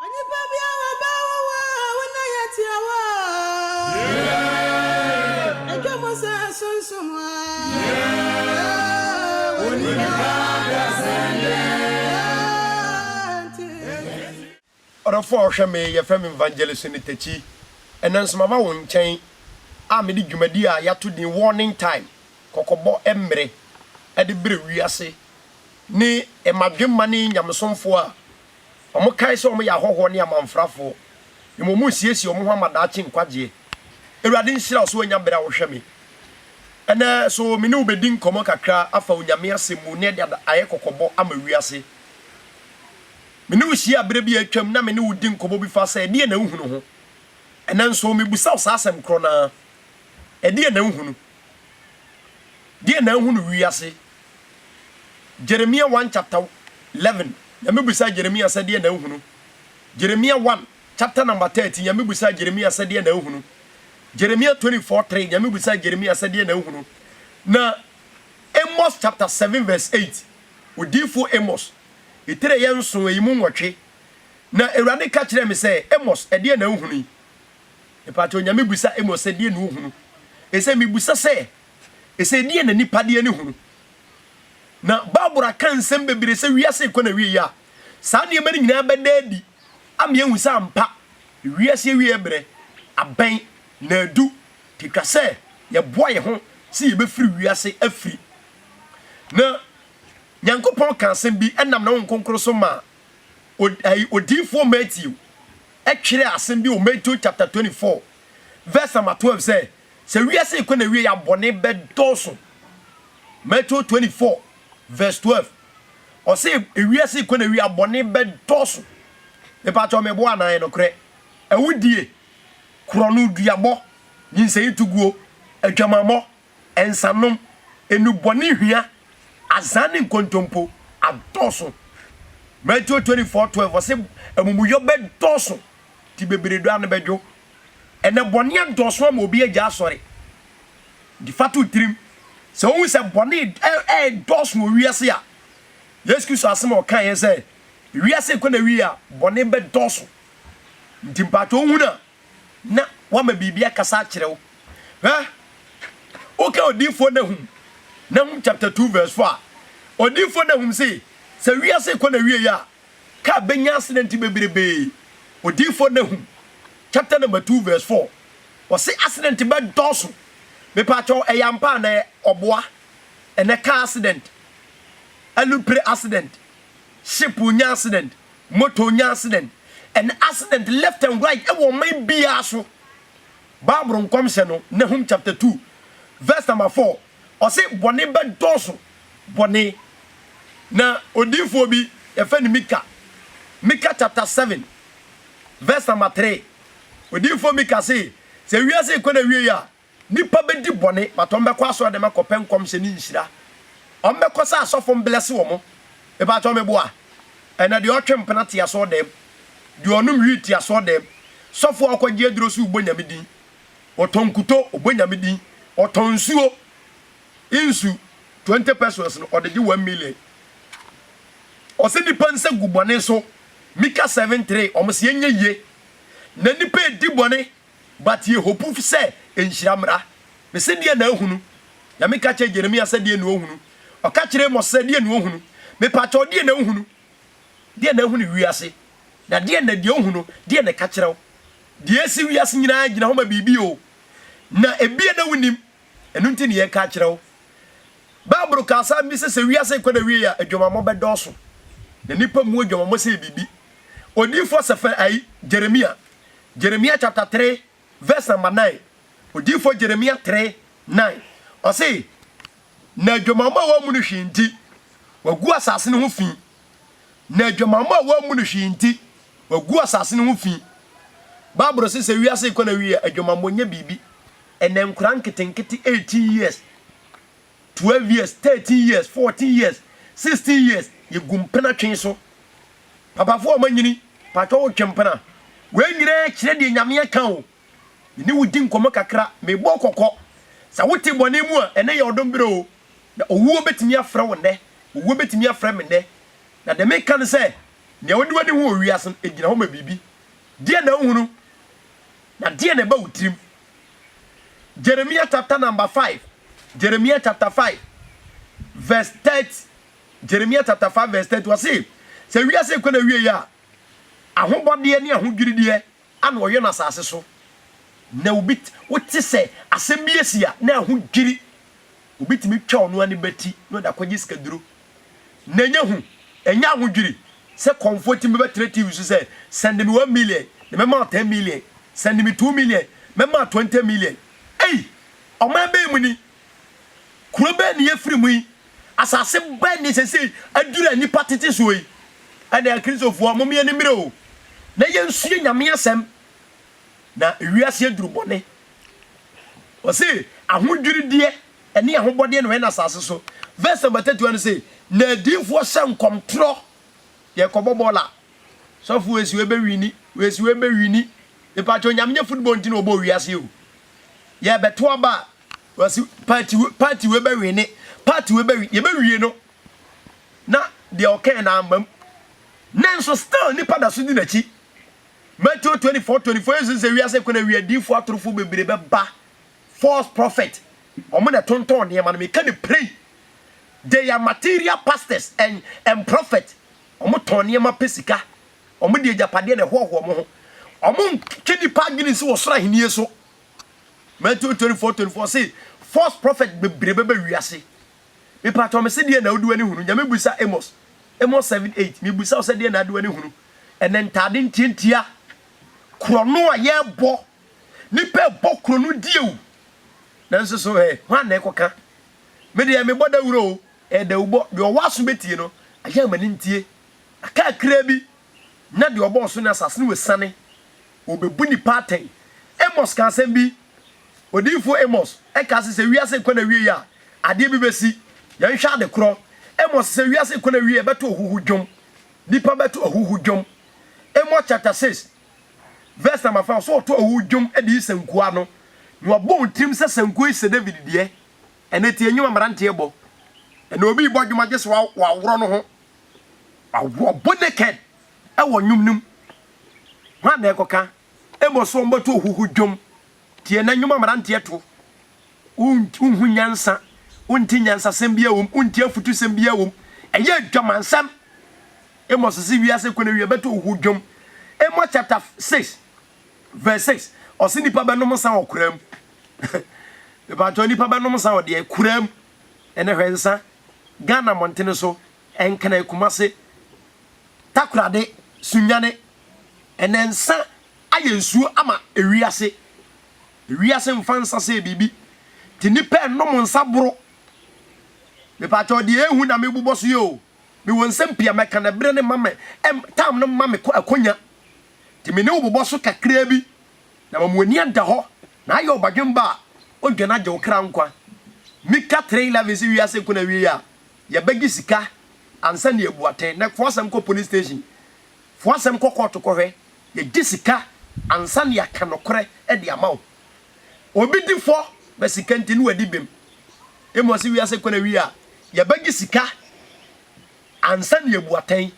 Onipa bi a wɔbaa wo hɔ a wo nan yɛ tiawa a, twa mu sɛ sunsum a, onipa Ɔdɔfo a ɔhwɛ me, wɔfrɛ me Evangelist Nitechi. Ɛnnɛ nso maba wo nkyɛn a mede dwumadi a yɛato din Warning Time, Kɔkɔbɔ Mmere, de brɛ wiase ne mmadwemma ne nyamesomfoɔ a wɔkae sɛ wɔyɛ ahɔhoɔ ne amamfrafoɔ, mmom resiesie wɔn ho ama daakye nkwagyeɛ. Awurade nhyira wo sɛ woanya berɛ a wohwɛ me ɛnnɛ. So me ne wo bɛdi nkɔmmɔ kakra afa Onyame asɛm mu na yɛde ayɛ kɔkɔbɔ ama wiase? Me ne wo hyiaa berɛ bi a atwam na me ne wo di nkɔmmɔ bi fa sɛ ɛdeɛn na wohunu ho. Ɛnnɛ nso mebisa wo saa asɛm korɔ no ara, ɛdeɛn na wohunu? Deɛn na ahunu wiase? Jeremia one chapter leven Nyame bisaa Jeremia sɛ deɛ na ahunu Jeremia one chapter number thirty Nyame bisaa Jeremia sɛ deɛ na ahunu Jeremia twenty four three Nyame bisaa Jeremia sɛ deɛ na ahunu Na Amos chapter seven verse eight Odiyifoɔ Amos Etire yɛ nson eyi mu nwɔtwe Na Awurade ka kyerɛɛ me sɛ, Amos, ɛdeɛ na wohunu yi? Mepakyɛw, Nyame bisa Amos sɛ deɛ na ohunu Ese mebisa sɛ, Ɛsɛ deɛ na nipa deɛ ne hunu. Na bible aka nsɛm bebree sɛ wiase rekɔ n'awieɛ a saa nneɛma no nyinaa bɛda adi ama yɛahu sɛ ampa wiase awieɛ berɛ abɛn na adu nti ɛtwa sɛ yɛboa yɛn ho sɛ yɛbɛfiri wiase afiri. Na Nyankopɔn kaa asɛm bi ɛnam ne Honhom Kronkron so maa odiyifoɔ Matthew ɛtwerɛɛ asɛm bi wɔ Matthew chapter 24 verse number 12 sɛ, Sɛ wiase rekɔ n'awiei a, bɔne bɛdɔɔso. Matthew twenty four verse twelve, ɔse wiase rekɔ n'awiei a, bɔne bɛdɔɔso. Mepakyɛw, meboa anaa? Ɛyɛ nokorɛ. Awudie, korɔnoduabɔ, nyinsɛntuguo, adwamammɔ, nsanom, nnubɔnehua, azan ne nkontompo adɔɔso. Matthew twenty four twelve, ɔse amumuyɔ bɛdɔɔso, nti bebree dɔ ara no bɛdwo. Ɛnnɛ bɔne adɔɔso ama obi agya asɔre de fa to tirim. Sɛ wohu sɛ bɔne redɔɔso wɔ wiase a, Yesu Kristo asɛm a ɔkaeɛ sɛ wiase rekɔ n'awie a, bɔne bɛdɔɔso nti, mpaatwɔ wohunu a na wama biribi akasa akyerɛ wo. Hwɛ, woka odiyifoɔ Nahum, Nahum chapter two verse four a, odiyifoɔ Nahum se, sɛ wiase rekɔ n'awieɛ a, Ka a benya asedɛnti beberebe. Odiyifo Nahum chapter number two verse four, ɔse asedɛnti bɛdɔɔso. Mepaakyɛw ɛyɛ ampa anaa? Ɔboa. Ɛnɛ car asedɛnt, alupre asedɛnt, ship nya asedɛnt, motor nya asedɛnt. Ɛnɛ asedɛnt left and right ɛwɔ ɔman biaa so. Bible nkɔmhyɛ no Nahum chapter two verse number four, Ɔse bɔne bɛdɔɔso bɔne Na odiyifoɔ bi yɛfrɛ no Mika Mika chapter seven verse number three Odiyifoɔ Mika se sɛ wiase rekɔ n'awieɛ a Nnipa bɛdi bɔne but wɔn bɛkɔ asɔredɛm akɔpɛ nkɔmhyɛ ne nhyira Wɔn bɛkɔ sɛ asɔfo mblɛse wɔn Mepakyɛw meboa? Ɛna deɛ ɔtwe mpena te asɔredɛm Deɛ ɔnom wheat te asɔredɛm Sɔfo a ɔkɔgye aduro so rebɔ Nyame din Ɔtɔ nkuto, ɔbɔ Nyame din. Ɔtɔ nsuo, nsu 20 pesewas no ɔde gye one million. Ɔse nipa nsa gu bɔne so, Mika 7 3, ɔmo se ɛnyɛ yie. Na nipa edi bɔne but yɛ hopu sɛ nhyira mmra. Mese deɛ na ahunu? Nyame ka kyerɛɛ Jeremia sɛ deɛ na ɔhunu. Ɔka kyerɛɛ Mose sɛ deɛ na ɔhunu. Mepakyɛw deɛ na wohunu? Deɛ na ahunu wiase, na deɛ na deɛ ohu no, deɛ na ɛka kyerɛ wo? Deɛ ɛsi wiase nyinaa gyina hɔ ma biribi o, na ebia na wonnim, ɛno nti na yɛreka akyerɛ wo. Bible ka asɛm bi sɛ, sɛ wiase rekɔ n'awieɛ a, adwamammɔ bɛdɔɔso, na nnipa mmu adwamammɔ sɛ ɛyɛ biribi. Odiyifoɔ Sɛfɛr, ai, Jeremia, Jeremiah chapter three vs namba nine, odiyifoɔ Jeremia three nine, ɔse, Na adwamammɔ a wɔammu no hwee nti, wɔagu asase no ho fi, na adwamammɔ a wɔammu no hwee nti, wɔagu asase no ho fi. Bible se sɛ wiase rekɔ n'awieɛ a, adwamammɔ nyɛ biribi. Ɛnnɛ nkwadaa nketenkete eighteen years, Twelve years, thirteen years, fourteen years, sixteen years, yegu mpena twe so. Papafoɔ a wɔanyini, patwɔ wotwe mpena? Wei nyinaa kyerɛ deɛ Nyame aka o. Me ne wo di nkɔmmɔ kakra, mebɔ wo kɔkɔ. Sɛ wote bɔne mu a, ɛnnɛ yɛ ɔdom berɛ o. Na owuo bɛtumi afrɛ wo nnɛ, owuo bɛtumi afrɛ me nnɛ. Na deɛ meka ne sɛ, nea wode w'ani hu wɔ wiase no, ɛgyina hɔ ma biribi. Deɛn na wohunu? Na deɛn na ɛba wo tirim? Jeremia chapter number five, Jeremia chapter five verse thirty, Jeremia chapter five verse thirty. Ɔsi sɛ wiase kɔ na wie yɛ a, ahobɔdeɛ ne ahodwirideɛ ana ɔyɛ no asase so. Na obi wote sɛ asɛm bi asi a na ahodwiri, obi tumi twa ɔno ani bɛti na ɔde akɔgye sikaduro. na ɛnyɛ hu, ɛnyɛ ahodwiri sɛ kɔmfoɔ tim bɛbɛtrɛ TV so sɛ, Send me one million, na mɛma wo ten million, Send me two million, mɛma wo twenty million. Ei! Ɔman bɛn mu ni? Kuro bɛn na yɛafiri mu yi? Asase bɛn na seesei aduru a nnipa tete soɔ yi? Ɛnna Akristofoɔ, momma yɛn ani mmere o, na yɛnsua Nyame Asɛm, na wiase aduru bɔne. Wɔse, ahodwirideɛ. ɛne ahobɔdeɛ na ɔyɛ no asase so. Verse number 31 no se, Na adiyifoɔ hyɛ nkɔm torɔ, yɛrekɔbɔ bɔɔl a, sɔfo wei se wobɛwini, wei se wobɛwini, mepaakyɛw Nyame nyɛ football nti na ɔbɔɔ wiase yi o. Yɛrebɛto aba a, wɔse party wei, party wei bɛwini, party wei bɛwini, yɛbɛwie no na deɛ ɔkae no amma mu. Nanso still nnipa da so di n'akyi. Matthew 24, 24 Yesu se wiase ko no awie, adiyifoɔ atorofoɔ bebree bɛba False prophet ɔmo na ɛtontɔn nneɛma no meka no plain they are material pastors and and prophet ɔmo tɔn nneɛma pɛ sika ɔmo de agyapadeɛ na ɛhoahoa ɔmo ho ɔmo ntwe nnipa adwene nsi wɔ soro ahennie so Matthew 24 24 se false prophet bebree bɛba wiase mepatɔ me se deɛ na wode w'ani hunu nyame bisa Amos Amos 7 8 mebisa wo sɛ deɛ na ade w'ani hunu ɛnɛ ntaade ntiantia korɔno a yɛbɔ Nnipa ɛbɔ kuro no die o. Nanso so ɛ, hwan na ɛkɔka? Me deɛ mebɔ dawuro o, ɛyɛ dawubɔ. Deɛ ɔwɔ aso bɛtie no, ayɛ ama no ntie. Aka kakraa bi na deɛ ɔbɔɔ so ne asase no asiane. Wɔbɛbu nnipa atɛn. Amos kaa asɛm bi. Odiyifoɔ Amos kaa se sɛ wiase rekɔ n'awieeɛ a, adeɛ bi bɛsi. Yɛnhwɛ ade korɔ. Amos sɛ wiase rekɔ n'awieeɛ, ɛbɛto ahuhu dwom. Nnipa bɛto ahuhu dwom. Amos chapter six. Verse number fa ɔsɛ ɔto ɔwo dwom de yi sankuo ano na wabɔ wo tirim sɛ sankuo yi sɛ David deɛ ɛnɛ tie nnwom a mmeranteɛ bɔ ɛnɛ obi rebɔ dwom a gye sɛ waworɔ no ho wabɔ naked ɛwɔ nnwom no mu hwan na ɛkɔka ɛbɔ so ɔmbɛto ɔhuhu dwom tie ɛnɛ nnwom a mmeranteɛ to Wonhu nyansa, wonte nyansasɛm biara wom, wonte afutusɛm biara wom. Ɛyɛ adwamansɛm. Amos se wiase kɔ n'awiei, ɛbɛto ohu dwom. Amos chapter six verse six, ɔse nnipa bɛnom nsa wɔ koraa mu. Mepaatwɔ nnipa bɛnom nsa wɔ deɛ koraa mu. Ɛnɛ hwɛ nsa, Ghana mmɔntene so, Nkran, Kumase, Takorade, Sunyane. Ɛnɛ nsa ayɛ nsuo ama ewiase. Wiase mfa nsa sɛ biribi nti nnipa ɛnnom nsa boro. Mepakyɛw deɛ ɛyɛ hu na mebobɔ so yi o, mewɔ nsɛm pii a mɛka na ɛberɛ no mma me, time no mma me akonya nti me ne wo bobɔ so kakraa bi na ma mo ani ada hɔ na ayɛ ɔbadwemba a ɔdwane agye wo kra nkwa. Mika 3:11 se wiase ko n'awieɛ a yɛbɛgye sika ansa na yɛabu atɛn. Nɛkfoɔ asɛm kɔ police station, foɔ asɛm kɔ kɔɔto kɔhwɛ Yɛgye sika ansa na yɛaka nokorɛ de ama wo. Obi di fɔ na sika nti na wadi bem. Mmom sɛ wiase kɔ n'awie a, yɛbɛgye sika ansa na yɛabu atɛn.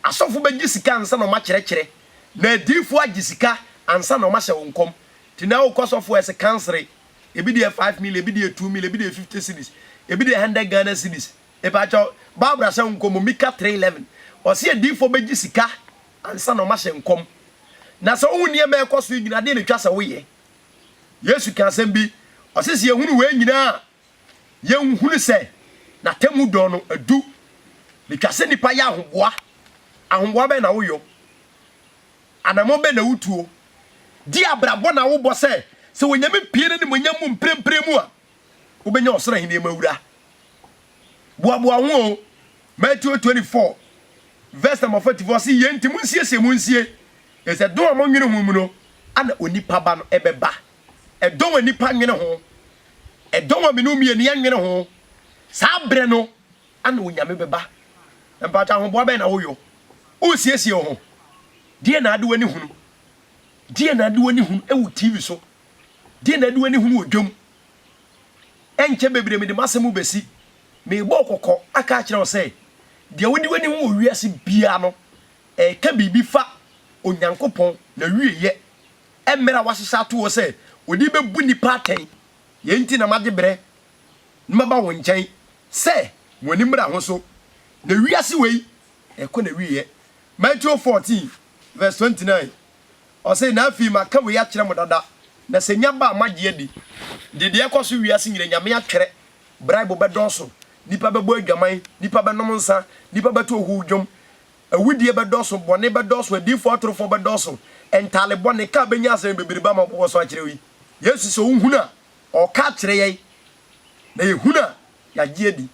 Asɔfo bɛgye sika ansa na wɔakyerɛkyerɛ, na adiyifoɔ agye sika ansa na wɔahyɛ wo nkɔm. Nti na wokɔ sɔfo hɔ a, ɛse kansere. Ebi deɛ five million, ebi deɛ two million, ebi deɛ fifty cedis, ebi deɛ hundred Ghana cedis. Mepakyɛw, Bible ahyɛ ho nkɔm o, Mika three eleven, ɔse adiyifoɔ bɛgye sika ansa na wɔahyɛ nkɔm. Na sɛ wohu nneɛma a ɛrekɔ so yi nyinaa, dɛn na etwa sɛ woyɛ? Yesu kaa asɛm bi, ɔse sɛ yɛhunu wei nyinaa a, yɛnhunu sɛ n'atemmu dɔn no adu. Na etwa sɛ nnipa yɛ ahoboa. Ahoboa bɛn na woyɔ? Anammɔn bɛn na wutuo? Deɛ abrabɔ na wobɔ sɛ, sɛ Onyame pue n'animuonyam mu mprempren mu a, wobɛnya ɔsoro ahennie mu awura. Boaboa ho o. Matthew twenty four verse number forty four se yei nti monsiesie mo nsie, ɛfiri sɛ dɔn a monwene ho mu no ana onipa ba no bɛba. Ɛdɔn a nnipa nwene ho, ɛdɔn a me ne wo mmienu yɛnwene ho, saa berɛ no ana Onyame bɛba. Mpakyɛ ahoboa bɛn na woyɔ? Woresiesie wo ho? Deɛ na ade w'ani hunu? Deɛ na ade w'ani hunu wɔ TV so? Deɛ na ade w'ani hunu wɔ dwam? Ɛnkyɛ bebree mede m'asɛm mu besi. Merebɔ wo kɔkɔ aka akyerɛ wo sɛ, deɛ wode w'ani ho wɔ wiase biara no, ɛreka biribi fa Onyankopɔn n'awieeɛ mmerɛ a wahyehyɛ ato hɔ sɛ ɔde bɛbu nnipa atɛn. Yei nti na magye berɛ na maba wo nkyɛn sɛ mo ani mmra ho so, na wiase wei rekɔ n'awieeɛ. Matthew 14 vs 29 Ɔse, Na afei maka wei akyerɛ mo dada, na sɛ nya ba a moagye adi. Nti deɛ ɛkɔ so wiase nyina Nyame atwerɛ, bribe bɛdɔɔso, nnipa bɛbɔ adwaman, nnipa bɛnom nsa, nnipa bɛto ohuw dwom, awudie bɛdɔɔso, bɔne bɛdɔɔso, adiyifoɔ atorofoɔ bɛdɔɔso, ntaale bɔne, ka a bɛnya asɛm bebrebe ama wɔbobɔ so akyerɛ wo yi. Yesu sɛ ɔhunu a, ɔɔka akyerɛ yɛn, na yɛhunu a, yɛagye adi.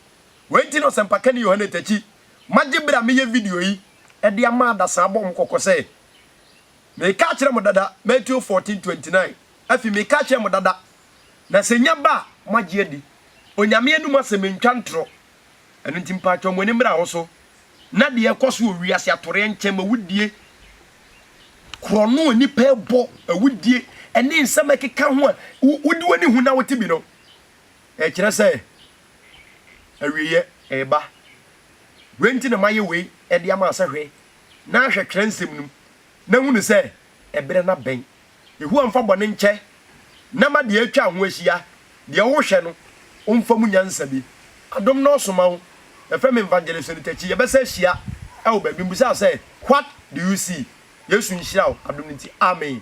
Wei nti na Ɔsɛmpakani Yohane Takyi magye berɛ a meyɛ video yi de ama adasaa bɔ mo kɔkɔ sɛ, Meka kyerɛ mo dada, Matthew fourteen twenty nine, Afei meka kyerɛ mo dada, na sɛ nya ba a, moagye adi, Onyame anom asɛm ntwa ntorɔ, ɛno nti mpaatwɔ mo ani mmra ho so, na deɛ ɛkɔ so wɔ wiase atoreɛ nkyɛm awudie, korɔno a nnipa ɛbɔ, awudie, ɛne nsɛm ɛkeka ho a wode w'ani hu na wote bi no, ɛkyerɛ sɛ awieɛ ɛreba. Wei nti na mayɛ wei de ama sɛ hwɛ, na ahwɛ twerɛnsɛm no mu, na ahunu sɛ ɛberɛ no abɛn. Yehowa mfa bɔne nkyɛ, na ma deɛ atwa ho ahyia, deɛ wohwɛ no, ɔmfa mu nyansa bi. Adom na ɔsoma wo. Yɛfrɛ me Evangelist Onitachi. Yɛbɛsan ahyia wɔ baabi. Mbisaa sɛ, What do you see? Yesu nhyira wo adom no nti. Amen.